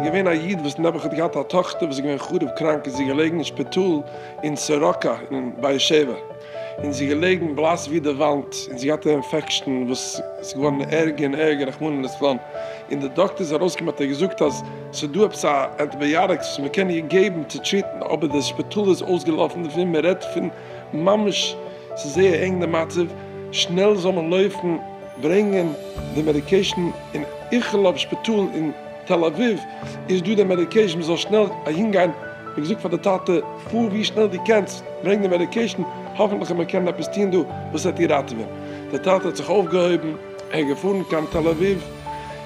געווען א איד וואס נעבעך האט געהאט א טאכטער וואס איז געווען חרוב קראנק איז זי געלעגן אין שפיטאל אין סורוקה אין באר שבע, און זי איז געלעגן בלאס ווי די וואנט, און זי האט געהאט א אינפעקשטן וואס איז געווארן ערגער און ערגער רחמנא לצלן, און די דאקטער איז ארויסגעקומען האט ער געזאגט אז ס'איז דא עפעס א ענטיבייאטיקס וואס מ'קען איר געבן צו טריטן, אבער די שפיטאל איז אויסגעלאפן דערפון, מ'רעדט פון ממש ס'איז זייער ענג די מצב, שנעל זאל מען לויפן ברענגען די מעדיקעישן אין איכילוב שפיטאל און. תל אביב איז דא די מעדיקעישן מען זאל שנעל אהין גיין, איך האב געזאגט פאר די טאטע פאר ווי שנעל דו קענסט ברענג די מעדיקעישן האפענטליך וועט מען קענען עפעס טון דא וואס וועט איר ראטעווען, די טאטע האט זיך אויפגעהויבן ער איז געפארן קיין תל אביב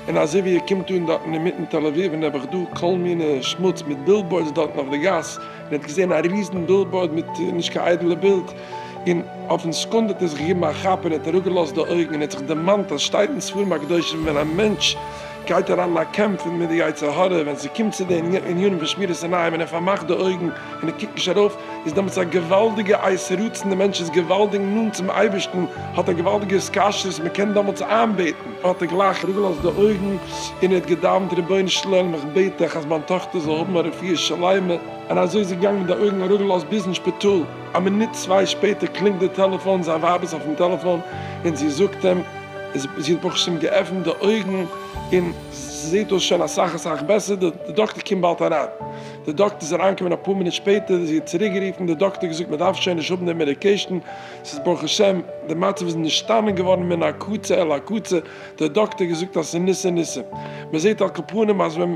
און אזוי ווי ער קומט אן דארטן אינמיטן תל אביב און נעבעך דא כל מיני שמוץ מיט בילבאורדס דארטן אויף די גאס און ער האט געזען א ריזן בילבאורד מיט נישט קיין איידעלע בילד און אויפן סעקונדע האט ער זיך געגעבן א כאפ און ער האט אראפגעלאזט די אויגן און ער האט זיך דערמאנט אז סשטייט אין ספרים הקדושים ווען א מענטש גייט אריין אין א קעמפ מיט די יצר הרע, ווען ס'קומט צו די ענינים פון שמירת עיניים און ער פארמאכט די אויגן און ער קוקט נישט ארויף, איז דעמאלטס א געוואלדיגע עשה רצון, די מענטש איז געוואלדיג נאנט צום אייבערשטן, האט א געוואלדיגע התקשרות, מען קען דעמאלטס איינבעטן, האט ער גלייך אראפגעלאזט די אויגן און ער האט געדאוונט, רבונו של עולם איך בעט דיך אז מיין טאכטער זאל האבן א רפואה שלימה, און אזוי איז ער געגאנגען מיט די אויגן אראפגעלאזט ביזן שפיטאל. א מינוט צוויי שפעטער קלינגט די טעלעפאן, זיין ווייב איז אויפן טעלעפאן און זי זאגט אים אז זי האט ברוך השם געעפנט די אויגן און זעהט אויס שוין אסאך אסאך בעסער, די דאקטער קומט באלד אריין. די דאקטער איז אריינגעקומען אפאר מינוט שפעטער, זי האט צוריק גערופן, די דאקטער האט געזאגט מען דארף שוין נישט האבן די מעדיקעישן, ס'איז ברוך השם, די מצב איז נשתנה געווארן מן הקצה אל הקצה, די דאקטער האט געזאגט אז ס'איז ניסי ניסים, מען זעהט על כל פנים אז ווען.